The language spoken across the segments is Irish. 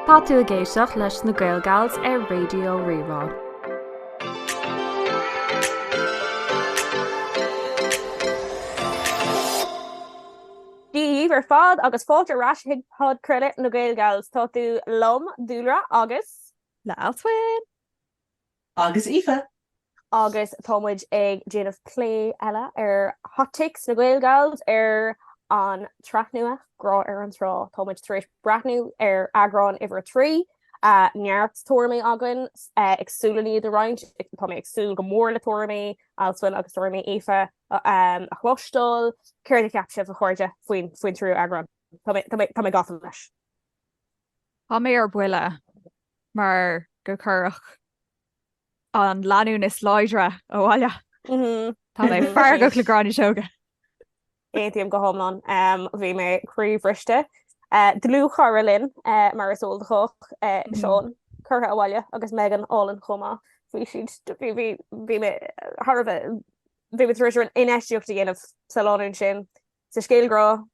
Tá tú ag éisteacht leis na Gaelgals ar Raidió Rí-Rá. Dia dhaoibh ar fad agus fáilte ar ais chuig podchraoladh na Gaelgals. Tá tú liom, Dúlra, agus. le Alswyn! Agus Aoife! Agus tá muid ag déanamh plé eile ar Hot Takes na Gaelgals ar an tsraith nua, Grá ar an Trá. Tá muid tar éis breathnú ar eagrán uimhir a trí, neart tuairimí againn, ag súil le iad a roinnt, tá mé ag súil go mór le tuairimí Alswyn agus tuairimí Aoife a chloisteáil. Céard a cheap sibh, a chairde, faoin tríú eagrán? Tá mé gafa leis! Tá mé ar buile! mar gur cuireadh an lánúin is láidre abhaile. Tá mé feargach le Gráinne Seoige. Aontaím go hiomlán. Bhí mé croíbhriste. Dlúthchara linn, mar is eol do chách, Seán, curtha abhaile agus Megan álainn chomh maith. Bhí siad, bhí, bhí, bhí mé thar a bheith, bhí mé tar éis an-infheistíocht a dhéanamh sa lánúin sin, sa scéal grá,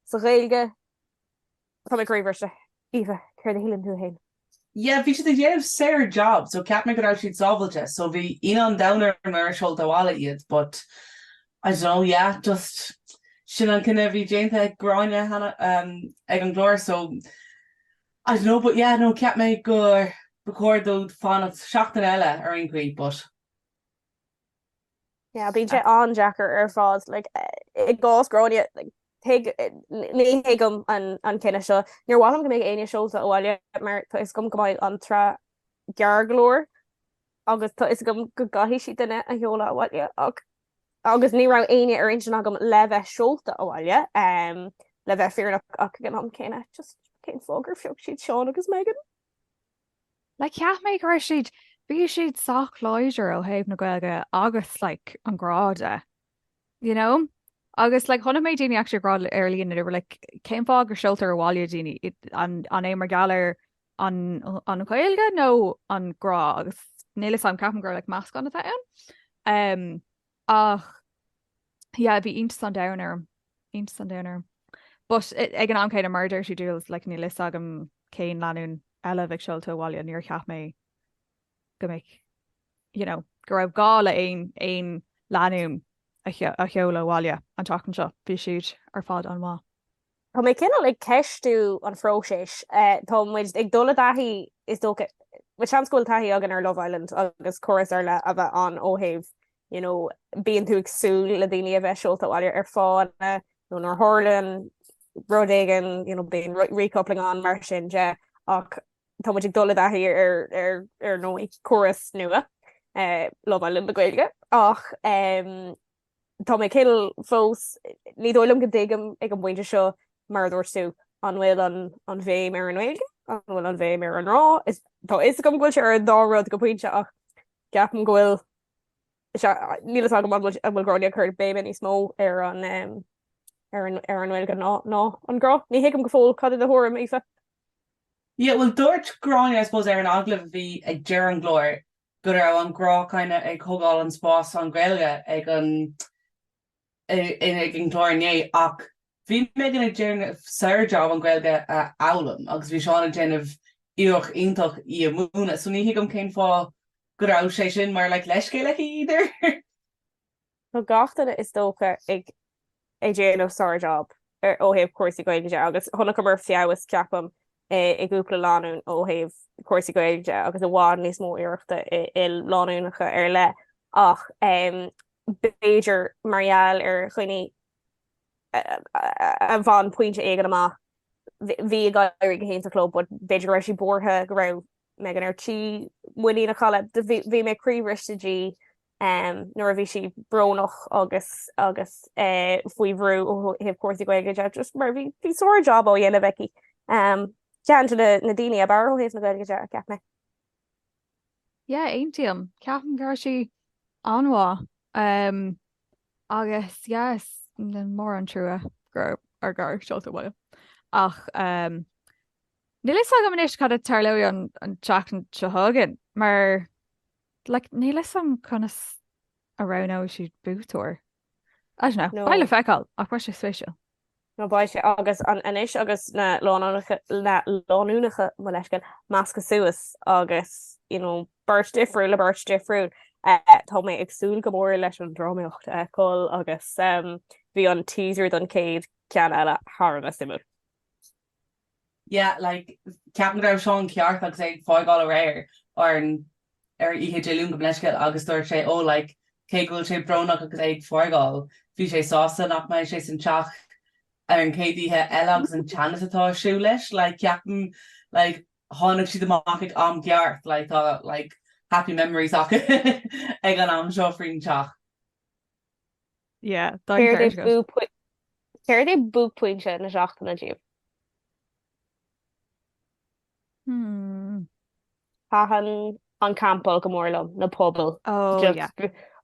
sa Ghaeilge. Tá mé croíbhriste. Aoife, céard a shíleann tú fhéin? Yeah, bhí siad ag déanamh sár job so cheap mé go raibh siad sábhailte so bhí ionadh an domhain orm ar seoladh abhaile iad but I don't know, yeah, just sin an cinneadh a bhí déanta ag Gráinne nó ehm ag an gclár so I don't know but yeah no cheap mé gur ba chóir dóibh fanacht seachtain eile ar aon chaoi but. Yeah bíonn sé an-deacair ar fad like i gcás Gráinne like ní thuigim an cinneadh seo. Níor mhaith liom go mbeadh éinne seolta abhaile mar tá fhios agam go mbeidh an tsraith gearr go leor agus tá fhios agam go gcaithfidh siad duine a sheoladh abhaile ach agus ní raibh éinne ar intinn agam le bheith seolta abhaile le bheith fírinneach ach ag an am céanna just cén fáth gur phioc siad Seán agus Megan? Like cheap mé go raibh siad, bhí siad sách láidir ó thaobh na Gaeilge agus like an grá de, you know? Agus like chonaic mé daoine actually ag rá ar líne, they were like cén fáth go seoltar abhaile daoine, an é mar gheall ar an an Ghaeilge nó an grá agus níl 'fhios a'm, ceapaim gur like meascán atá ann. Ach, yeah, bhí iontas an domhain orm, iontas an domhain orm. But ag an am céanna, mar a dúirt tú, Dúls, like, níl 'fhios agam cén lánúin eile a bheadh seolta abhaile, níor cheap mé go mbeadh, you know, go raibh gá le aon, aon lánúin a sheoladh abhaile an tseachtain seo, bhí siad ar fad an-mhaith. Tá mé cineál ag ceistiú an phróiseas. Tá muid ag dul i dtaithí, is dócha, bhuel, seans go bhfuil taithí againn ar Love Island agus córas ar leith a bheith ann ó thaobh you know bíonn tú ag súil le daoine a bheith seolta abhaile ar fáthanna nó nuair a tharlaíonn rud éigin you know bíonn recoupling ann mar sin de ach tá muid ag dul i dtaithí ar ar ar ndóigh córas nua eh, Love Island na Gaeilge ach em, Tá mé cineál fós. Ní dóigh liom go dtuigim ag an bpointe seo, mar a dúirt tú, an bhfuil an bhéim ar an nGaeilge, an bhfuil an bhéim ar an ngrá. Tá fhios agam go bhfuil sé ar an dá rud go pointe ach ceapaim go bhfuil níl fhios agam an bhfuil an bhfuil Gráinne ag cur béime níos mó ar an ar an ar an nGaeilge ná ná an grá. Ní thuigim go fóill cad é do thuairim, Aoife. Yeah, bhuel dúirt Gráinne I suppose ar an agallamh a bhí ag deireadh an gcláir, go raibh an grá kinda ag thogáil an spás an Ghaeilge ag an ag an gclár inné ach bhí Megan ag déanamh sár job an Ghaeilge a fhoghlaim agus bhí Seán ag déanamh iarracht iontach í a múineadh so ní thuigim cén fáth go raibh sé sin mar like leithscéal aici either! Tá gach duine is dócha ag ag déanamh sár job ar ó thaobh cúrsaí Gaeilge de agus chonaiceamar feabhas ceapaim i gcúpla lánúin ó thaobh cúrsaí Gaeilge de agus i bhfad níos mó iarrachta i lánúineacha ar leith ach b'fhéidir mar gheall ar chaoineadh a bhain pointe éigin amach bhí ag éirí go hiontach leo but b'fhéidir go raibh sí buartha go raibh Megan ar tí muinín a chailleadh. Bhí mé croíbhriste di nuair a bhí sí brónach agus agus faoi bhrú ó thaobh cúrsaí Gaeilge de just mar bhí bhí sár job á dhéanamh aici. Ceann de na na daoine ab fhearr ó thaobh na Gaeilge de, a cheap mé. Yeah, aontaím. Ceapaim go raibh sí an-mhaith agus yes mór an trua gur gur seoladh abhaile ach. Níl fhios agam anois cad a tharlóidh an tseachtain seo chugainn mar like níl fhios a'm conas a roghnóidh siad buaiteoir. I don't know, beidh le feiceáil ach beidh sé spéisiúil. Nó beidh sé agus anois agus na lánúineacha mo leithscéal meascaithe suas agus you know beirt difriúil le beirt difriúil. Tá mé ag súil go mór leis an drámaíocht a fheiceáil agus bhí an teaser don chéad ceann eile thar a bheith suimiúil. Yeah, like, ceapaim go raibh Seán ceart agus é ag fágáil aréir ar ar oíche Dé Luain gabh mo leithscéal agus dúirt sé, oh, like, cé go bhfuil sé brónach agus é ag fágáil, bhí sé sásta nach mbeidh sé san teach ar an chéad oíche eile agus an teannas atá ar siúl leis, like, ceapaim, like, tháinig siad amach ag am gceart, like, tá, like, happy memories acu ag an am seo faoin teach. Céard é buaicphointe na seachtaine daoibh? Thaitin an campáil go mór liom, na pubaill,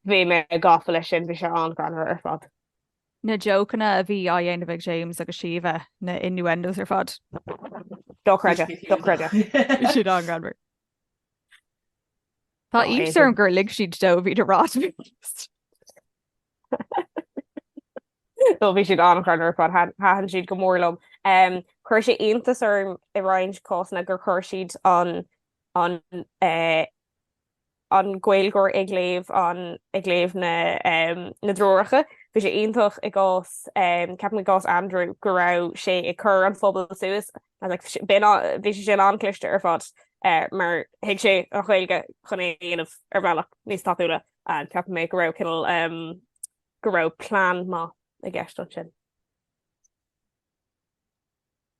bhí mé gafa leis sin, bhí sé an-ghreannmhar ar fad. Na jócanna a bhí á ndéanamh ag James agus Síomha, na innuendos ar fad. Dochreidte, dochreidte. Bhí siad an-ghreannmhar. Tá iontas orm gur lig siad dó, leis an fhírinne a rá. So bhí siad an-ghreannmhar ar fad thaitin siad go mór liom. Chuir sé iontas orm i roinnt cásanna gur chuir siad an Gaeilgeoir ag léamh na dtreoracha. Bhí sé iontach i gcás, ceapaim i gcás Andrew, go raibh sé ag cur an phubaill suas I was like bhí sé sin an-cliste ar fad eh, mar thuig sé an Ghaeilge chun é a dhéanamh ar bhealach níos tapúla and ceapann mé go raibh cineál um, go raibh plean maith i gceist ansin.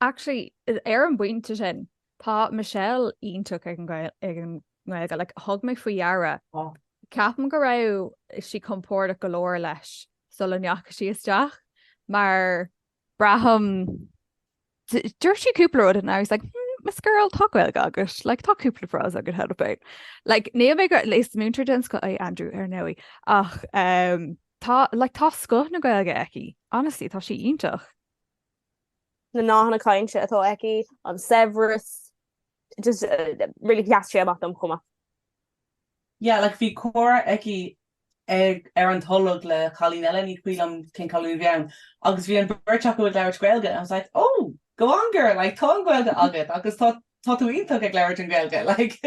Actually, ar an bpointe sin, tá Michelle iontach ag an nGaeilge, like, thug mé faoi deara. Oh. Ceapaim go raibh sí compordach go leor leis sula ndeachaigh sí isteach, mar braithim, dúirt sí cúpla rud and I was like hmm Miss Girl tá Gaeilge agat, like tá cúpla frása agat how about. Like níl mé go, is múinteoir den scoth é Andrew ar ndóigh ach eh tá like tá scoth na Gaeilge aici, honestly tá sí iontach. na nathanna cainte atá aici, an saibhreas, just really sheas sé amach dom chomh maith. Yeah, like bhí comhrá aici ag, ar an tolg le cailín eile, ní cuimhin liom cén cailín a bhí ann, agus bhí an bheirt acu ag labhairt Gaeilge and I was like, oh, go on girl, like tá an Ghaeilge agat agus tá, tá tú iontach ag labhairt an Ghaeilge, like.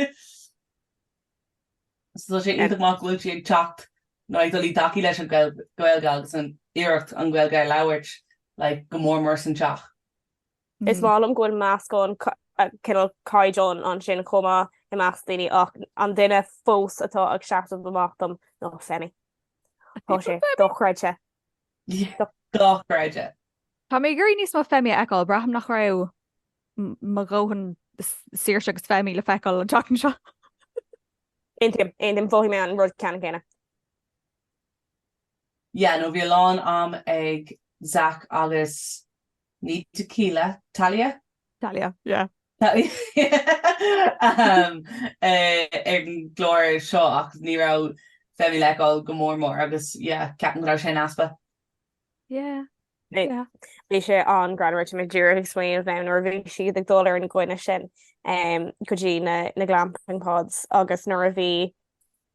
So tá sé iontach maith go bhfuil sí ag teacht nó ag dul i dtaithí leis an Ghaeilge agus ag iarraidh an Ghaeilge a labhairt, like go mór mór san teach. Is maith liom go bhfuil meascán cineál caighdeán ansin chomh maith i measc daoine ach an duine fós atá ag seasamh amach dom ná Femi. Tá sé dochreidte. Dochreidte. Tá mé ag iarraidh níos mó Femi a fheiceáil, braithim nach raibh mo dhóthain Saoirse agus Femi le feiceáil an tseachtain seo. Aontaím, aontaím, mhothaigh mé an rud ceannann céanna. Yeah, no bhí a lán am ag Zac agus Ní tequila, Talia? Talia, yeah. ar an gclár seo ach ní raibh Femi le feiceáil go mór mór agus yeah, ceapaim go raibh sé in easpa. Yeah, yeah. Bhí sé an-ghreannmhar, bhí mé díreach ag smaoineamh, em, nuair a bhí siad ag dul ar an gcoinne sin go dtí na glamping pods agus nuair a bhí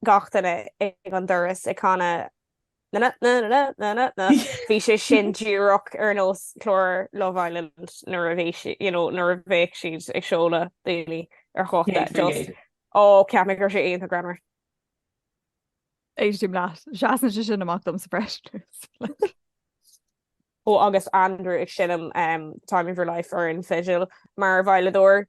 gach duine ag an doras ag canadh Bhí sé sin díreach ar nós chlár Love Island nuair a bhí si- you know, nuair a bhíodh siad ag seoladh daoine ar date just, ó, cheap mé go raibh sé iontach greannmhar. Éistím leat. Seasann sé sin amach dom sa bhreis. Ó agus Andrew ag seinm The Time of Your Life ar an bhfidil mar veidhleadóir,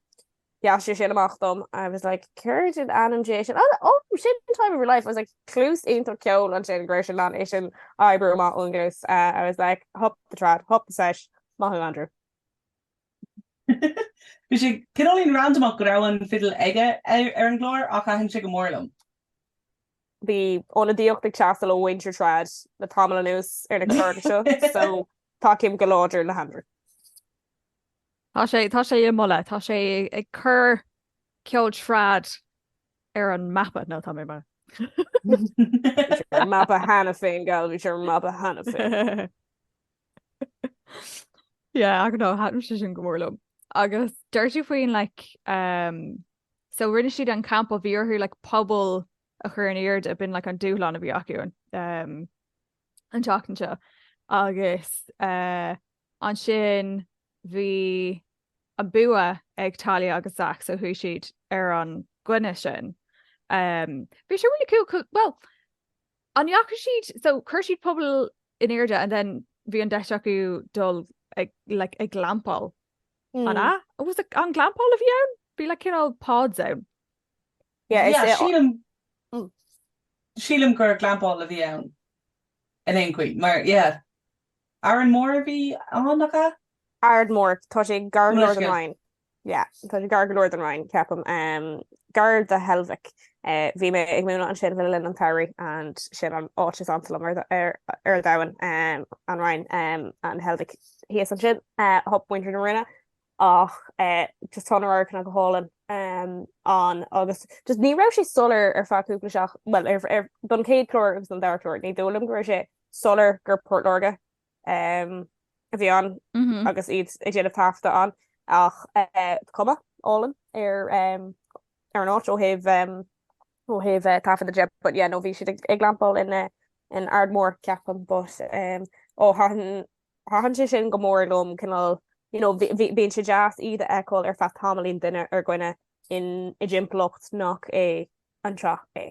sheas sé sin amach dom, I was like céard in ainm Dé é sin? Ó sin The Time of Your Life! I was like cluas iontach ceoil ansin go raibh sé in ann é sin a oibriú amach ón gcluas, I was like hup the trad, hup the sesh, maith thú Andrew. Bhí sé cineáilín randamach go raibh an fidil aige ar an gclár ach thaitin sé go mór liom. Bhí ionadaíocht ag teastáil ó mhuintir trad le tamall anuas ar na cláracha seo so tacaím go láidir le hAndrew. Tá sé tá sé á mholadh, tá sé ag cur ceol trad ar an mapa, nó tá mé mar. Bhí sé ar an mapa cheana féin gal, bhí sé ar an mapa cheana féin. Yeah, I don't know, thaitin sé sin go mór liom. Agus dúirt tú faoin like, So rinne siad an campáil, bhí orthu like puball a chur in airde, b'in like an dúshlán a bhí acu an um an tseachtain seo agus uh ansin bhí an bua ag Talia agus Zach so chuaigh siad ar an gcoinne sin. Um bhí sé really cool, cool well An ndeachaigh siad, so, chuir siad puball in airde and then bhí an deis acu dul ag, like, ag glampáil, an ea? Was it, an glampáil a bhí ann? Bhí like cineál pods ann. Yeah, is é. Sílim, sílim gur glampáil a bhí ann in aon chaoi mar, yeah. Aird Mhór a bhí ann, nach ea? Aird Mhór, tá sé gar go leor don Rinn. Yeah, tá sé gar go leor don Rinn, ceapaim. Gar do Heilbhic. Bhí mé ag múineadh ansin le linn an tsamhraidh and sin an áit is ansa liom ar ar an domhan, an Rinn, Heilbhic thíos ansin, hup muintir na Rinne. Ach just tá na radharcanna go hálainn ann agus just ní raibh sé soiléir ar feadh cúpla seach- bhuel ar ar don chéad clár agus don dara clár, ní dóigh liom go raibh sé soiléir gur Port Láirge a bhí ann agus iad ag déanamh taifeadta ann ach cuma álainn ar an áit ó thaobh ó thaobh taifeadta de but yeah nó bhí siad ag glampáil in in Aird Mhór ceapaim but ó thaitin thaitin sé sin go mór liom cineál you know bíonn sé deas iad a fheiceáil ar feadh tamaillín duine ar choinne in i dtimpeallacht nach é an teach é.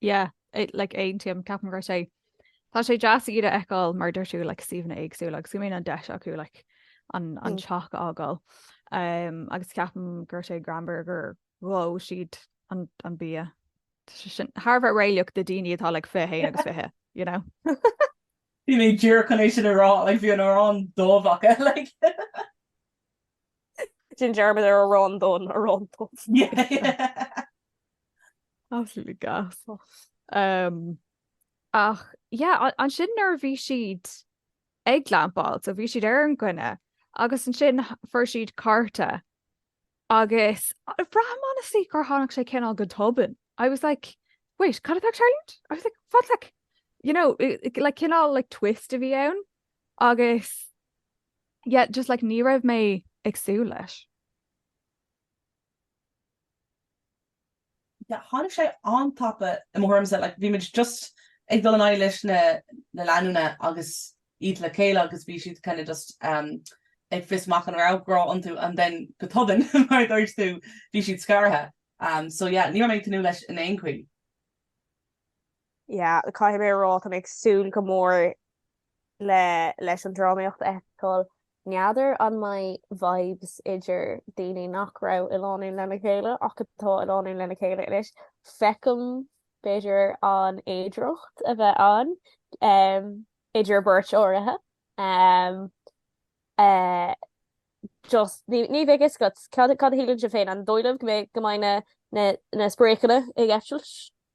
Yeah, like aontaím, ceapaim go raibh sé. Tá sé deas iad a fheiceáil mar dúirt tú like suíomhanna éagsúla agus go mbíonn an deis acu like an an mm. teach a fhágáil. Um, agus ceapaim go raibh sé greannmhar gur dhóigh siad an an bia. sin thar a bheith réalaíoch do daoine atá like fiche haon agus fiche, you know. Bhí mé díreach chun é sin a rá, like bhí an arán dubh acu like. Déan dearmad ar arán donn, arán dubh. Absolutely gas. Um, ach, yeah, ansin nuair a bhí siad ag glampáil, so bhí siad ar an gcoinne, agus ansin fuair siad cárta, agus braithim honestly gur tháinig sé cineál go tobann. I was like, wait, cad atá ag tarlúint? I was like, what, like, you know, like cineál like twist a bhí ann, agus Yeah, just like ní raibh mé ag súil leis. Yeah, tháinig sé an-tapa i mo thuairimse, like bhí muid just ag dul in aghaidh leis na lánúna agus iad le chéile agus bhí siad kind of just ag fios amach an raibh grá iontu and then go tobann, mar a dúirt tú, bhí siad scartha. So yeah, ní raibh mé ag tnúth leis in aon chaoi. yeah, caithfidh mé a rá, tá mé ag súil go mór le, leis an drámaíocht a fheiceáil. N'fheadar an mbeidh vibes idir daoine nach raibh i lánúin lena chéile ach atá i lánúin lena chéile anois. Feicim, b'fhéidir, an fhéidireacht a bheith ann em, idir beirt áirithe. Em. Eh. just ní, ní bheadh a fhios agat cad, cad a shíleann sibh féin? An dóigh libh go mbeidh, go mbeidh na, na, na spréachanna ag eitilt?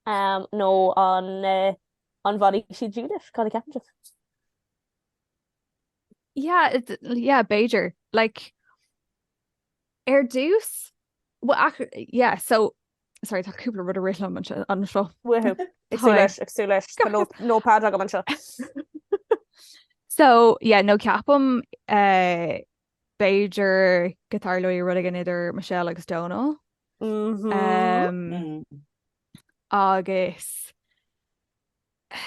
nó an bhfanfaidh siad dílis? Cad a ceapann tú? Yeah, b'fhéidir. Like, ar dtús, yeah, so, sorry, tá cúpla rud a rith liom anseo. Woohoo, ag súil leis, ag súil leis, tá notepad agam anseo. So, yeah, nó ceapaim, eh, B'fhéidir go dtarlóidh rud éigin idir Michelle agus Dónall. Mhmm. Agus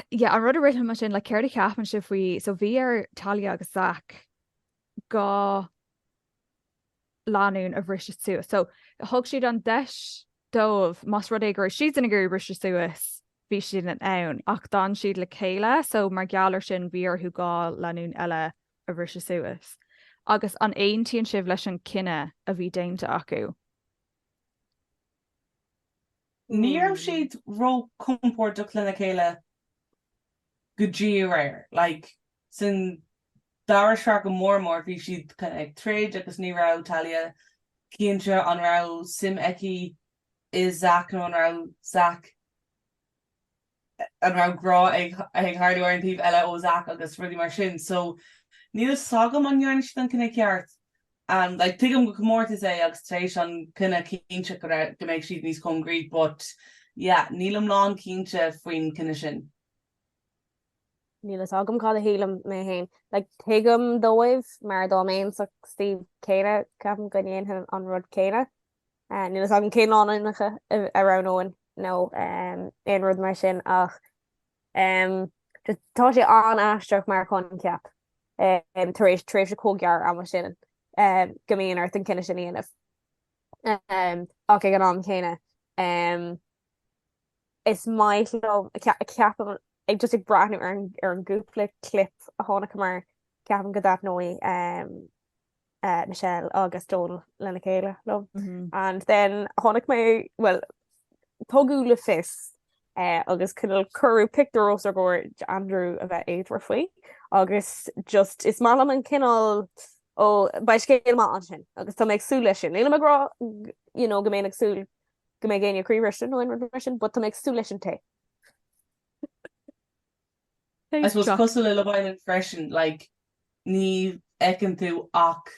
yeah, an rud a rith liom ansin, like, céard a cheapann sibh faoi, so bhí ar Talia agus Zach dhá lánúin a bhriseadh suas. So thug siad an deis dóibh, más rud é go raibh siadsan ag iarraidh briseadh suas, bhí siad in ann, ach d'fhan siad le chéile, so mar gheall ar sin, bhí orthu dhá lánúin eile a bhriseadh suas. Agus an aontaíonn sibh leis an cinneadh a bhí déanta acu? Ní raibh siad ró-chompordach lena chéile. go dtí aréir. Like, san dara sraith go mór mór, bhí siad kind of ag troid agus ní raibh Talia cinnte an raibh suim aici i Zack nó an raibh Zack, an raibh grá ag tarlú ar an taobh eile ó Zack agus rudaí mar sin. So, níl 'fhios agam an ndearna siad an cinneadh ceart. And like tuigim go comórtas é agus tar éis an cinneadh cinnte go mbeidh siad níos concrete but yeah, nílim lán cinnte faoin cinneadh sin. Níl fhios agam cad a shílim mé féin. Like, tuigim dóibh mar dá mbéinn sa suíomh céanna, ceapaim go ndéanfainn an rud céanna. Níl fhios agam cé na lánúineacha a roghnóinn nó aon rud mar sin ach tá sé an-aisteach mar choincheap tar éis tréimhse chomh gearr ama sin go mbíonn ort an cinneadh sin a dhéanamh ach ag an am chéanna is maith liom ceapaim ag just ag breathnú ar an gcúpla clip a chonaiceamar ceapaim go dtaitneoidh eh, Michelle agus Donal lena chéile liom. And then tháinig, bhuel, tugadh le fios eh, agus cineál cuireadh pictiúr os ar gcomhair d'Andrew a bheith éadmhar faoi agus just is maith liom an cineál ó beidh scéal maith ansin agus tá mé ag súil leis sin. Nílim ag rá g- you know, go mbeinn ag súil go mbeidh éinne croíbhriste nó aon rud mar sin, but tá mé ag súil leis an tae. I suppose cosúil le Love Island freisin like ní fheiceann tú ach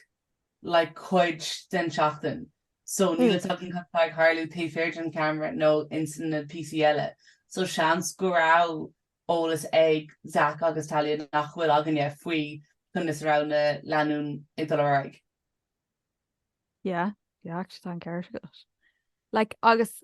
like cuid den seachtain so níl a fhios againn cad tá ag tharlú taobh thiar den cheamara nó ins na píosaí eile so seans go raibh eolas ag Zac agus Talia nach bhfuil againne faoi conas a raibh na lánúin ag dul ar aghaidh. Yeah, yeah, tá an ceart agat. Like agus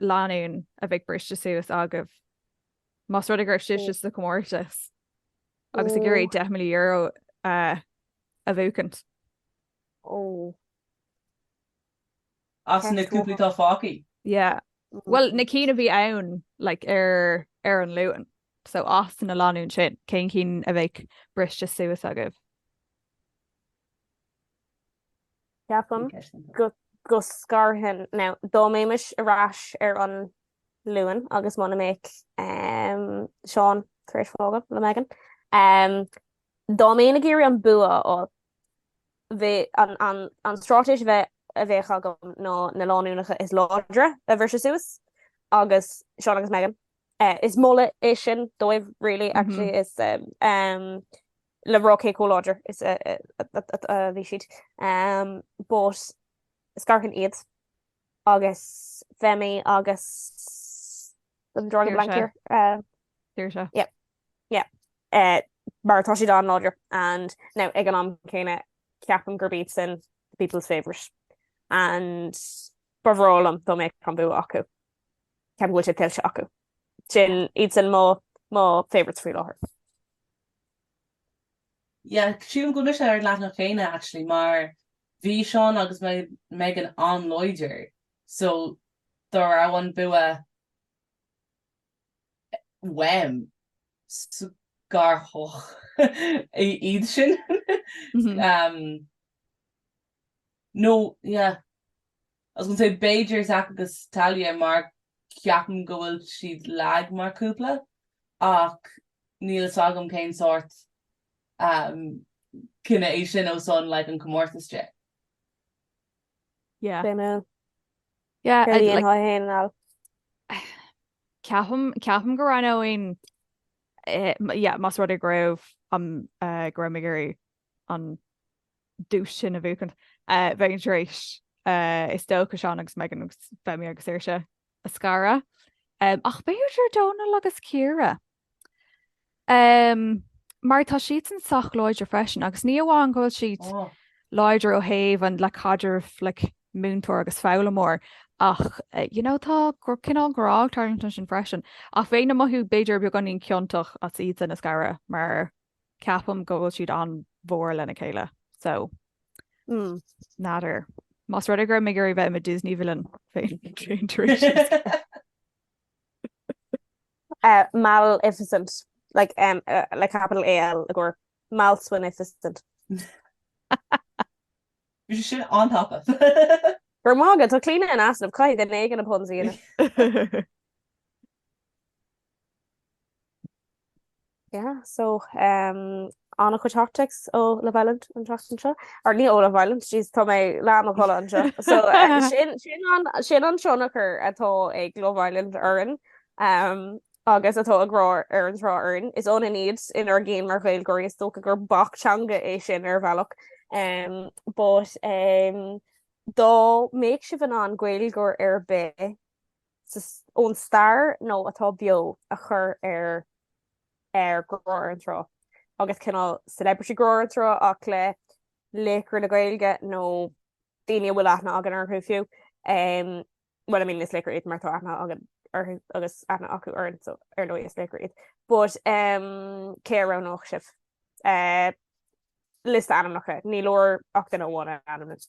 lánúin a bheadh briste suas agaibh más rud é go raibh sibhse sa chomórtas agus ag iarraidh deich míle euro a bhuachaint. Oh. As na cúpla atá fágtha? Yeah. Bhuel, na cinn a bhí ann like ar ar an Luan. So as na lánúin sin, cé na cinn a bheadh briste suas agaibh? Ceapaim go scarfainn now. Dá mbeimis ar ais ar an Luan agus muna mbeadh Seán tar éis fágáil le Megan, dá mbeinn ag iarraidh an bua a fháil, bhí an straitéis a bheadh, a bheadh agam ná na lánúineacha is láidre a bhriseadh suas agus Seán agus Megan. Is moladh é sin dóibh really actually. le rá cé chomh láidir is a bhí siad, but scarfainn iad agus Femi agus I'm drawing a blank here, Saoirse. yep, yep, mar atá siad an-láidir and now ag an am céanna ceapaim gurb iadsan the people's favourite and ba bhreá liom dá mbeadh an bua acu, ceapaim go bhfuil sé tuillte acu. Sin, iadsan mo favourites faoi láthair. Yeah, sílim go bhfuil mise ar an leathanach céanna actually mar bhí Seán agus Megan an-láidir so dá raibh an bua uaim scarfadh mé iad sin. Nó yeah. I was gonna say b'fhéidir Zak agus Talia mar ceapaim go bhfuil siad lag mar chúpla ach níl fhios agam cén sórt cinneadh é sin ó son like an comórtas de. Yeah. Sin é. Yeah, Gur líon like, thá féin anall. ceapaim, ceapaim go roghnóinn, eh, yeah, más rud é go raibh, um, eh, go raibh mé ag iarraidh an duais sin a bhuachan. Bheinn tar éis, is dócha, Seán agus Megan agus Femi agus Saoirse a scaradh, ach b'fhéidir Dónal agus Ciara? Mar tá siadsan sách láidir freisin, agus ní amháin go bhfuil siad láidir ó thaobh an like caidreamh like múinteoir agus foghlaimeoir ach you know tá cineál grá ag tarlúint ansin freisin. Ach bheinn ag mothú b'fhéidir beagáinín ciontach as iadsan a scaradh mar Ceapaim go bhfuil siad an-mhór lena chéile so n'fheadar. Más rud é go raibh mé ag iarraidh bheith i mo Disney villain bheinn tar éis iadsan a scaradh. Maleficent, like M, like capital A L i gcomhair Alswynificent. Bhí sé sin an-tapa. Go raibh maith agat, tá Clíona in easnamh, caithfidh duine éigin na puns a dhéanamh. Yeah, so um ana-chuid hot takes ó Love Island an tseachtain seo, or ní ó Love Island, jeez tá mé leath i mo chodladh anseo. So sin sin an sin an tionchar atá ag Love Island orainn um agus atá ag Grá ar an Trá orainn. Is ionann iad inár gceann mar Ghaeilgeoirí, is dócha gur bac teanga é sin ar bhealach um but um dá mbeadh sibh in ann Gaeilgeoir ar bith ón stair nó atá beo a chur ar ar Grá ar an Trá agus cineál celebrity Grá ar an Trá ach le laochra na Gaeilge nó daoine a bhfuil aithne againn orthu fiú ehm well I mean is laochra iad mar tá aithne againn orthu agus aithne acu orainn so ar ndóigh is laochra iad but ehm cé a roghnódh sibh? Eh liosta ainmneacha, ní leor ach duine amháin a ainmniú.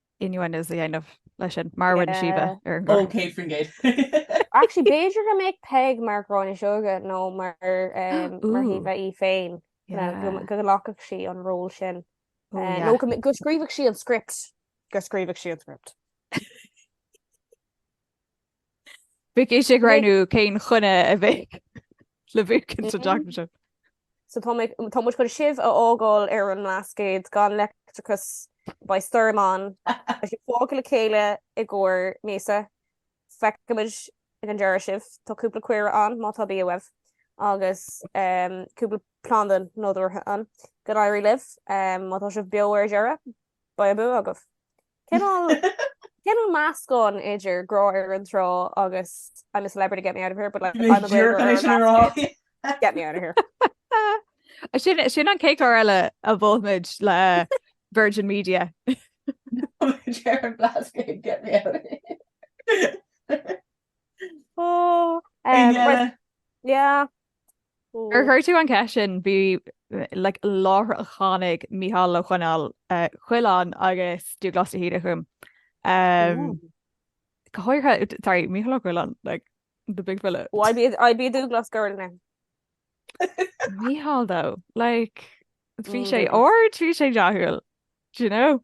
innuendos a dhéanamh leis sin, mar a rinne Síomha ar an gclár. OK Fringegate! Actually, b'fhéidir go mbeadh Peig mar Ghráinne Seoige nó mar Shíomha í féin, go nglacfadh sí an ról sin. Nó go scríobhadh sí an script, go scríobhadh sí an script. Bheadh ise ag roghnú cén chaoi a mbeadh le buachaint sa gcás sin. So tá mé tá muid chun sibh a fhágáil ar an mBlascaod gan leictreachas, beidh stoirm ann, beidh sibh fágtha le chéile i gcomhair míosa, feicfimid ag an deireadh sibh, tá cúpla caora ann má tá bia uaibh agus cúpla planda nádúrtha ann, go n-éirí libh má tá sibh beo ar deireadh. Beidh an bua agaibh. Cineál meascán idir Grá ar an Trá agus I'm a celebrity get me out of here but like I'm a great girl in that space get me out of here. Sin an chéad chlár eile a mholfaimid le Virgin Media. Gerard Blascaod get me out of here. Ó! Yeah. Ar chuir tú an cheist sin? Bhí like láithreach tháinig Micheál Ó Coileáin agus Dúghlás de hÍde chugam. Go háirithe, sorry, Micheál Ó Coileáin like the big fella. Oh I'd be I'd be a Dúghlás girl now. Micheál though like bhí sé ard, bhí sé dathúil, do you know?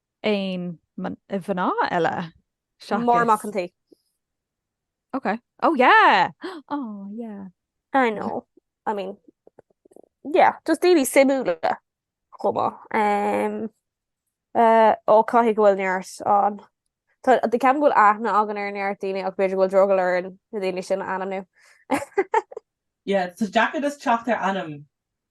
aon mhná eile seachas... Máire Mac an tSaoi. Ok. Oh yeah! Oh yeah. I know. I mean, yeah, just daoine suimiúla chomh maith. Ó, caithfidh go bhfuil neart ann. Ceapaim go bhfuil aithne againn ar neart daoine ach b'fhéidir go bhfuil drogall orainn na daoine sin a ainmniú. Yeah, is deacair just teacht ar ainm.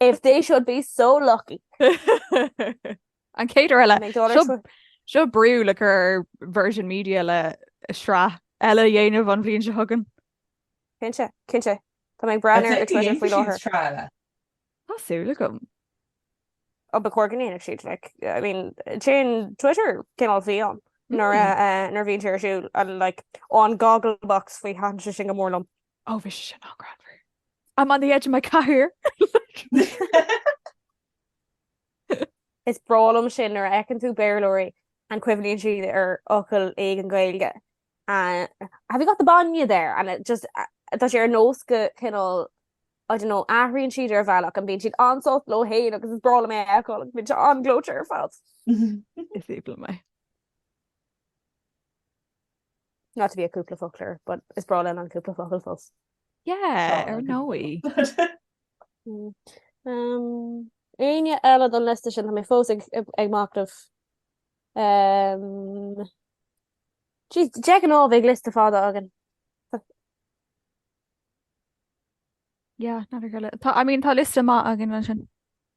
If they should be so lucky. An chéad uair eile. Seo brú le cur ar Virgin Media le sraith eile a dhéanamh an bhliain seo chugainn. Cinnte, cinnte. Tá mé ag breathnú ar Twitter faoi láthair. Tá súil agam. Ó ba chóir go ndéanfadh siad like, I mean, téann Twitter cineál fiáin nuair a bhíonn sé ar siúl and like, ó an Gogglebox faoi thaitin sé sin go mór liom. Oh, bhí sé sin an-ghreannmhar. I'm on the edge of my cathaoir! Is breá liom sin nuair a fheiceann tú Béarlóirí and cuimhníonn siad ar fhocail éigin Gaeilge and have you got the bainne there? and it just tá sé ar nós go cineál I don't know athraíonn siad ar bhealach and bíonn siad an-sult leo féin agus is breá liom é a fheiceáil agus bíonn sé an-ghleoite ar fad. Is aoibhinn liom é. Not to be a cúpla focler but is breá liom an cúpla focal fós. Yeah, ar ndóigh. Éinne eile don liosta sin? Tá mé fós ag machnamh. Jeez, de ghnáth bheadh liosta fada againn. Yeah, nach mbíodh ár liosta. Tá, I mean, tá liosta maith againn ansin.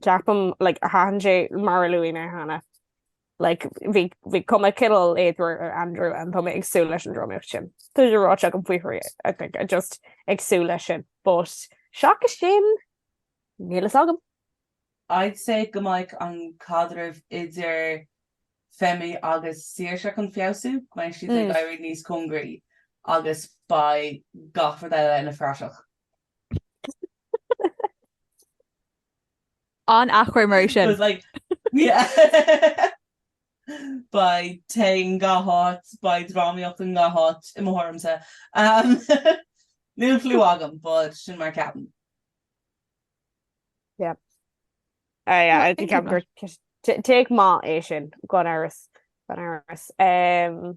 ceapaim, like, thaitin sé mar a luaigh mé cheana, like, bhí, bhí cuma cineál éadmhar ar Andrew and tá mé ag súil leis an drámaíocht sin. Tá sé ráite agam faoi thrí, I think, I just ag súil leis sin, but seachas sin, níl a fhios agam. I'd say go mbeidh an caidreamh idir Femi agus Saoirse chun feabhsú, go mbeidh siad ag éirí níos cóngaraí agus beidh gach rud eile ina phraiseach. An athchur mar sin. But like Beidh tae i ngach áit, beidh drámaíocht i ngach áit, i mo thuairimse. Níl cliú agam, but sin mar a cheapaim. Yeah. Ah yeah, I think I'm gur take maith é sin gan amhras, gan amhras.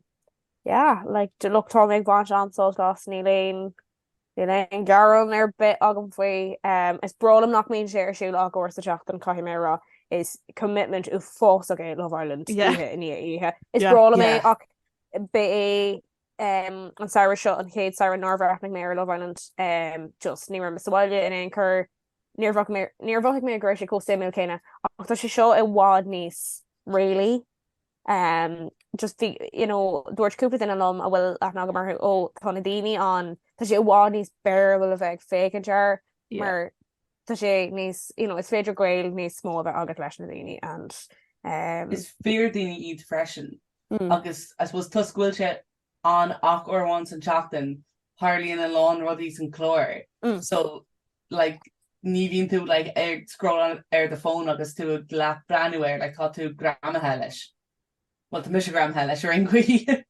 Yeah, like look tá mé ag baint an-sult as, níl aon Níl aon ghearán ar bith agam faoi. Is breá liom nach mbíonn sé ar siúl ach uair sa tseachtain, caithfidh mé a rá. Is commitment uafásach é Love Island, oíche i ndiaidh oíche. Is breá liom é ach ba é an samhradh seo an chéad samhradh nár bhreathnaigh mé ar Love Island. Just, ní raibh mé sa bhaile in aon chor, níor, níor mhothaigh mé go raibh sé chomh suimiúil céanna. Ach tá sé seo i bhfad níos réalaí. Ehm just bhí you know dúirt cúpla duine liom a bhfuil aithne agam orthu "ó tá na daoine ann tá sé i bhfad níos fearr bhuel a bheith féachaint air mar tá sé níos you know is féidir gaol níos mó a bheith agat leis na daoine and ehm is fíor daoine iad freisin agus I suppose toisc go bhfuil sé ann ach uair amháin san tseachtain, tharlaíonn a lán rudaí san clár so like ní bhíonn tú like ag scrolláil ar do fón agus tú ag breathnú air like tá tú greamaithe leis, bhuel tá mise greamaithe leis ar aon chaoi.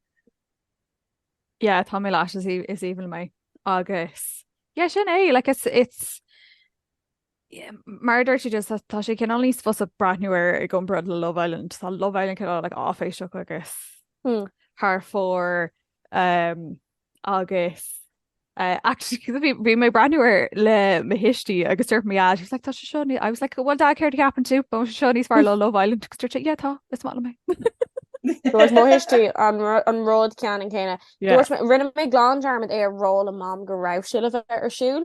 Yeah tá mé leis is aoibhinn liom é agus yeah sin é like it's it's Mar a deir siad, tá sé cineál níos fusa breathnú air i gcomparáid le Love Island. Tá Love Island cineál like áiféiseach agus thar fóir agus eh actually cos bhí bhí mé ag breathnú air le mo thuistí agus dúirt mé ah she was like tá sé seo ní- I was like well dad céard a cheapann tú? Tá sé seo níos fearr ná Love Island agus dúirt sé yeah tá is maith liom é. Dúirt mo thuistí an ru- an rud ceannan céanna. Yeah. Dúirt mé rinne mé glan dearmad a rá le mam go raibh sé le bheith ar siúl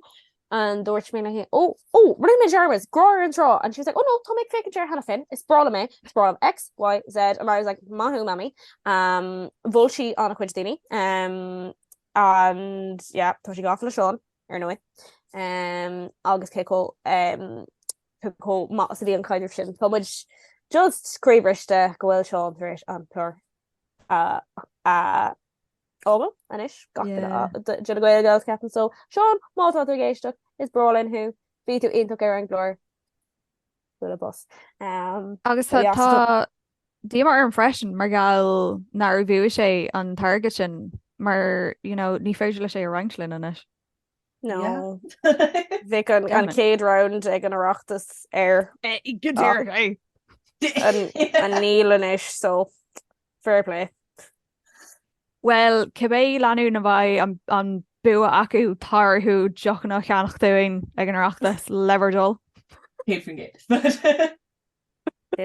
and dúirt mé léi ó, ó, rinne mé dearmad, Grá ar an Trá and she was like oh no, tá mé ag féachaint air cheana féin, is breá liom é, is breá liom X, Y, Z and I was like maith thú Mammy um bhuail sí le cuid daoine um and yeah tá sí gafa le Seán ar ndóigh um agus cé chomh um cé chomh maith is a bhí an caidreamh sin, tá muid just croíbhriste go bhfuil Seán tar éis an clár a a Ó bhuel, anois gach duine de na Gaelgals ceapaim so. Seán, má tá tú ag éisteacht, is breá linn thú, bhí tú iontach ar an gclár. Bualadh bos. Agus tá, tá díomá orm freisin mar gheall nár bhuaigh sé an t-airgead sin mar, you know, ní féidir leis é a roinnt linn anois. No. Bheadh an, an chéad round ag an Oireachtas air. Go deireadh é! An, an níl anois so fair play. Bhuel, cibé lánúin a bheidh an bua acu, tá orthu deochanna a cheannach dúinn ag an Oireachtas, le bhur dtoil! Sin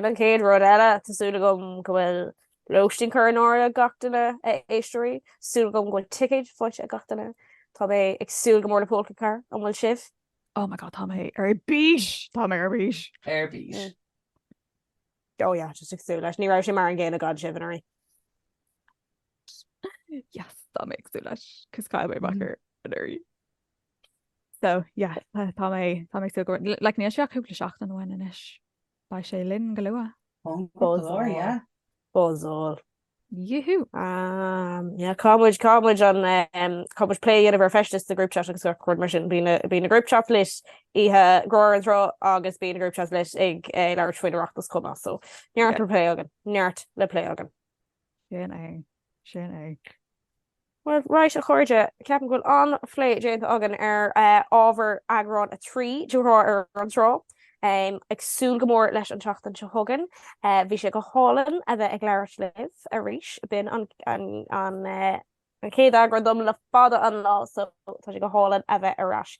é an chéad rud eile, tá súil agam go bhfuil lóistín curtha in áirithe ag gach duine, a éisteoirí, súil agam go bhfuil ticéid faighte ag gach duine, tá mé ag súil go mór le Pólca Carr, an bhfuil sibh? Oh my God, tá mé ar bís! Tá mé ar bís! Ar bís! Oh yeah just ag súil leis. Ní raibh sé mar an gcéanna gan sibh anuraidh. Yes tá mé ag súil leis cos chaill mé amach air anuraidh. So yeah tá mé tá mé ag súil leis níl sé ach cúpla seachtain uainn anois Beidh sé linn go luath. Buzzáil. Yee-hoo! Ahh caithfimid caithfimid an caithfimid plé a dhéanamh ar feisteas sa group chat agus rudaí mar sin. Bíonn bíonn na group chats lit oíche Ghrá ar an Trá agus bíonn na group chats lit ag labhairt faoin Oireachtas chomh maith so neart le plé againn, neart le plé againn. Sin é, sin é. Bhuel, raight, a chairde, ceapaim go bhfuil an-phlé déanta againn ar ábhar eagrán a trí de Ghrá ar an Trá. Ag súil go mór leis an tseachtain seo chugainn. Bhí sé go hálainn a bheith ag labhairt libh arís, b'in an chéad eagrán dom le fada an lá, so tá sé go hálainn a bheith ar ais